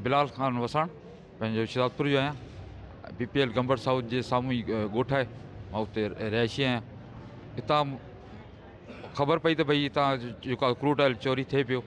بلال خان وساڻ پنهنجو شهدادپور جو آهيان بي پي ايل گمبر سائوٿ جي سامهون ئي ڳوٺ آهي مان اتي رهائشي آهيان اتان خبر پئي ته ڀئي اتان جيڪو آهي ڪروڊ آئل چوري ٿئي پيو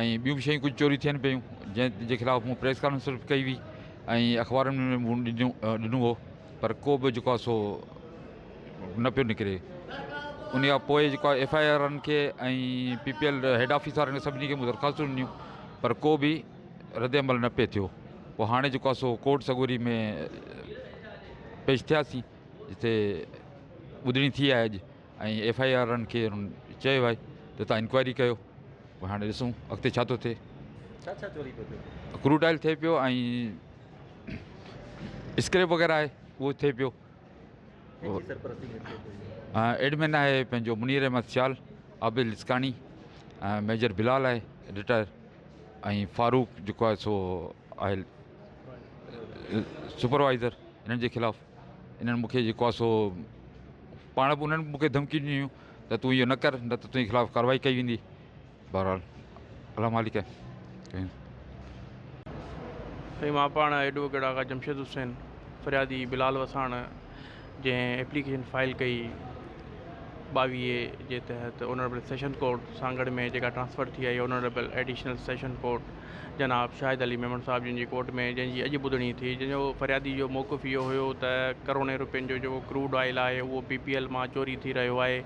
۽ ٻيون به شيون ڪجهه چوري ٿين پيون جنهن جي خلاف مون پريس ڪانفرنس به ڪئي هئي ۽ اخبارن ۾ مون ڏنو ڏنو هو پر ڪو به جيڪو سو نه پيو نڪري ان کان پوء جيڪو ایف آء آرن کي ۽ P P L head office وارن کي سڀني کي مون درخواستون ڏنيون پر ڪو به رد عمل نه پئي ٿيو پوء هاڻي جيڪو آهي سو ڪورٽ سڳوري ۾ پيش ٿياسين جتي ٻڌڻي ٿي آهي اڄ ۽ ايف آئي آرن کي چيو آهي ته تان انڪوائري ڪيو پوء هاڻي ڏسون اڳتي ڇا ٿو ٿئي ڇا ڇا چوري پيو ٿئي ڪروڊ آئل ٿئي پيو ۽ اسڪريپ وغيره آهي اهو ٿئي پيو ايڊمن آهي پنهنجو منير احمد سيال، عابد لسڪاڻي ۽ ميجر بلال آهي رٽائر ۽ فاروق جيڪو آهي سو آهي سپروائزر انهن جي خلاف انهن مونکي جيڪو آهي سو پاڻ به انهن مونکي ڌمڪي ڏنيون ته تون اهو نه ڪر نه ته تنهنجي خلاف ڪاروائي ڪئي ويندي بهرحال الله مالڪ ڪيون. سائين مان پاڻ ايڊووڪيٽ آغا جمشيد حسين فريادي بلال وساڻ جنهن ايپليڪيشن فائل ڪئي ٻاويهه جي تحت اونريبل سيشن ڪورٽ سانگهڙ ۾ جيڪا ٽرانسفر ٿي آئي اونريبل ايڊيشنل سيشن ڪورٽ جناب شاهد علي ميمڻ صاحب جن جي ڪورٽ ۾ جنهن جي اڄ ٻڌڻي ٿي جنهن جو فريادي جو موقف اهو هيو ته ڪروڙين روپين جو جيڪو ڪروڊ آئل آهي اهو بي پي ايل مان چوري ٿي رهيو آهي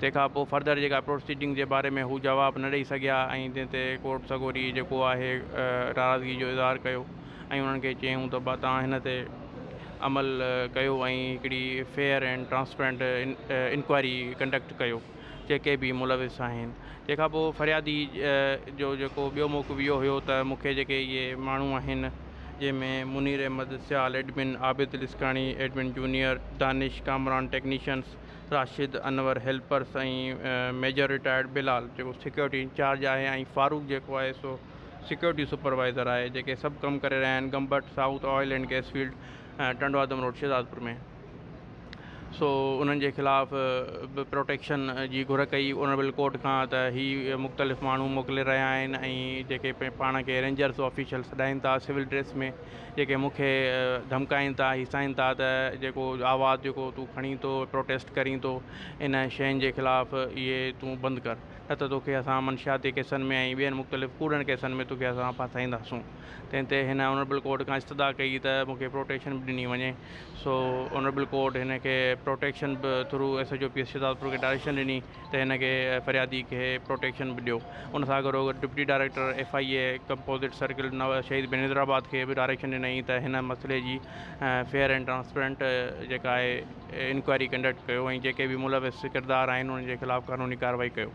تنهن کان پوء فردر جيڪا پروسيڊنگ جي باري ۾ هو جواب نه ڏئي سگهيا ۽ تنهن تي ڪورٽ سڳوري جيڪو آهي ناراضگي جو اظهار ڪيو ۽ انهن کي چيائون ته توهان هن تي عمل ڪيو ۽ هڪڙي fair and transparent inquiry conduct ڪيو جيڪي به ملوث آهن تنهن کان پوء فريادي جو جيڪو ٻيو موقف اهو هيو ته مون کي جيڪي اهي ماڻهو آهن جنهن ۾ Munir Ahmed Sial admin Abid Laskani admin junior Danish Kamran technicians Rashid, Anwar, helpers ۽ major retired Bilal جيڪو سيڪيورٽي انچارج آهي ۽ فاروق جيڪو آهي سو سيڪيورٽي سپروائيزر آهي جيڪي سڀ ڪم ڪري رهيا آهن Gambat south oil and gas field Tando Adam road Shahdadpur ۾ سو انهن جي خلاف به پروٽيڪشن جي گهر ڪئي اونربل ڪورٽ کان ته هي مختلف ماڻهو موڪلي رهيا آهن ۽ جيڪي پاڻ کي رينجرس آفيشل سڏائين ٿا سول ڊريس ۾ جيڪي مون کي ڌمڪائين ٿا هيسائين ٿا ته جيڪو آواز جيڪو تون کڻين ٿو پروٽيسٽ ڪرين ٿو ان شين جي خلاف اهي تون بند ڪر نه ته توکي اسان منشياتي ڪيسن ۾ ۽ ٻين مختلف ڪوڙن ڪيسن ۾ توکي اسان ڦاسائينداسون تنهن تي هن آنريبل ڪورٽ کان استدعا ڪئي ته مون کي پروٽيشن به ڏني وڃي سو آنريبل ڪورٽ هن کي پروٽيشن به through S H O P S Shahdadpur کي ڊائريڪشن ڏني ته هن کي فريادي کي پروٽيڪشن به ڏيو ان سان گڏو گڏ deputy director F I A composite circle Shaheed بين حيدرآباد کي به ڊائريڪشن ڏنائين ته هن مسئلي جي فيئر اينڊ ٽرانسپيرنٽ جيڪا آهي انڪوائري ڪنڊڪٽ ڪيو ۽ جيڪي به ملوث ڪردار آهن انهن جي خلاف قانوني ڪارروائي ڪيو